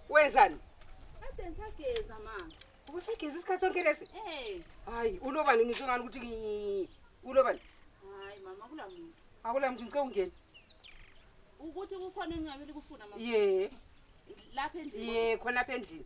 Wenzani? Kade ngisageza ma. Ubusageza isikhathi sonke lesi? Eh. Hayi, ulobani ngizwe ngani ukuthi ngi- ulobani? Hayi mama kula muntu. Akula mntu ngicela ungene. Ukuthi kukhona engabe likufuna mama. Ye, Lapha endlini. ye khona apha endlini.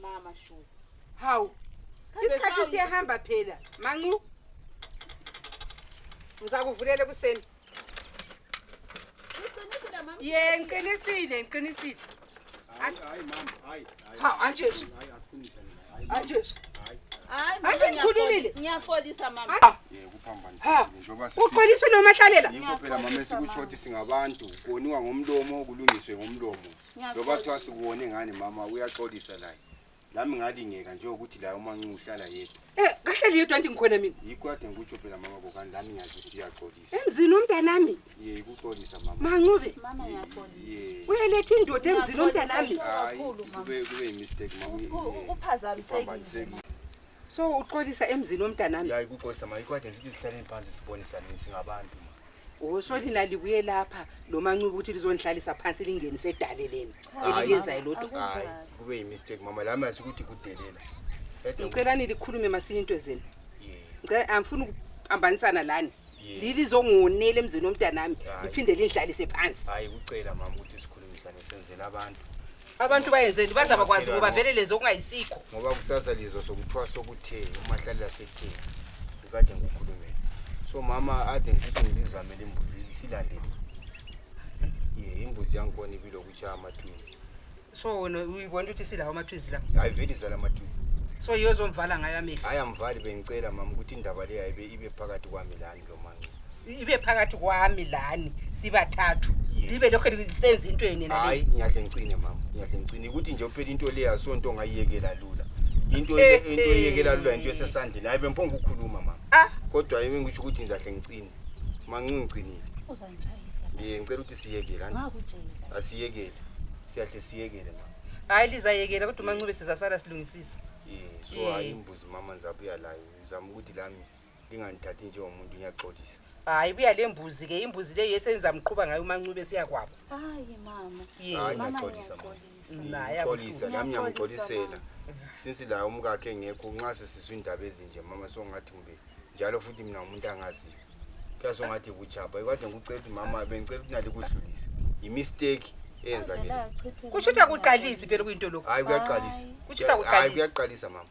mama sho hawu isikhathi siyahamba phela mancu ngizakuvulela ekuseni ye ngiqinisile ngiqinisile hawu anjesu anjesu Ake ngikhulumile. Ngiyaxolisa mama. Ha. Ha. Uxoliswe nomahlalela. Yikho phela mama esikutsho ukuthi singabantu koniwa ngomlomo kulungiswe ngomlomo. loba kuthiwa sikuwone ngani mama uyaxolisa laye lami ngalingeka njengokuthi laye umancuba uhlala yedwa Eh, kahleli yedwa anti ngikhona mina yikho kade ngikutsho phela mama kokani lami ngiyazi siyaxolisa emzini womntanami ye ikuxolisa mama mancube Mama Ye- ngiyaxolisa. ye uyeletha indoda emzini womntanami hayi Kakhulu, mama. kube kube yimistake mama U- u- uphazamisekile. uphambanisekile so uxolisa emzini womntanami ya ikuxolisa mama yikho kade ngithi sihlaleni phansi sibonisane singabantu Usoli lalibuye lapha lomancuba ukuthi lizonihlalisa phansi lingenise edaleleni eliyenzayo lodwa. Hayi, kube yimistake mama lami asi ukuthi kudelela. Ede Ngicela nilikhulume masinya into zenu. Yeah. Ngicela angifuni ukuphambanisana lani. Yeah. Lilizongonela emzini womntanami Hayi. liphinde linihlalise phansi. Hayi kucela mama ukuthi sikhulumisane senzele abantu. abantu bayenzeni baze bakwazi ngoba vele lezo okungayisikho ngoba kusasa lizwa sokuthwasa okuthe umahlalela sekutheni ukade ngikukhulumele so mama ade ngisithi ngizizamele imbuzi silandele ye imbuzi yangikhona ibile okutshaya amatwini so wena uyibona ukuthi silawo amatwizi la hayi vele izala amatwini so yozomvala ngayo amehlo hayi amvali bengicela mama ukuthi indaba le yayibe ibe phakathi kwami lani ibe phakathi kwami lani sibathathu libe lokho lisenza into yeni nale hayi ngiyahle ngicine mama ngiyahle ngicine ukuthi nje uphela into le yasonto ngayiyekela lula into le Eh, into eyekela lula into eh. esesandleni hayi bemphonga ukukhuluma mama ah kodwa yimi ngisho ukuthi ngizahle ngicine mancu ngicinile uzangitshayisa ngiye ngicela ukuthi siyekele anti ngakutshela asiyekele siyahle siyekele mama hayi lizayekela kodwa umancube sizasala silungisisa yeah so Yeah. hayi imbuzi mama ngizabuya layo ngizama ukuthi lami ndinganithathi njengomuntu ngiyaxolisa hayi buya le mbuzi ke imbuzi le yesenza mqhuba ngayo umancube siya kwabo hayi mama Ye. Hayi, mama ngiyaxolisa, mama. ngiyaxolisa naye ngixolisa abuhlungu. nami ngiyamxolisela since la umka akhe ngekho nxa sesizwa indaba ezinje mama songathi kumbe njalo futhi mina umuntu angaziyo kuya songathi kuchapha kade ngikucela ukuthi mama bengicela ukuthi nalikudlulise yimisteki eyenzakele kusho ukuthi akuqalisi phela kuyinto lokhu hayi kuyaqalisa Hayi. Kusho ukuthi Hayi, akuqalisi. kuyaqalisa mama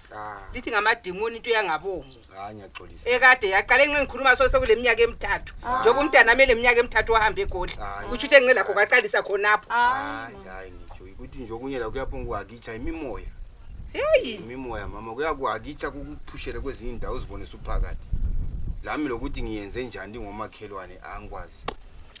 lithi ngamadimoni into yangabomu ekade yaqale nxa ngikhuluma so sekuleminyaka emithathu ah. njengoba umntana ami eleminyaka emithathu wahambe egoli kutsho ukuthi engingelakho kwaqalisa khonapho ukuthi nje okunye la kuyaphunga kuhakitsha imimoya heyi imimoya mama kuyakuhakitsha kukuphushele kwezinye indawo uzibone suphakathi lami lokuthi ngiyenze njani ndingomakhelwane angikwazi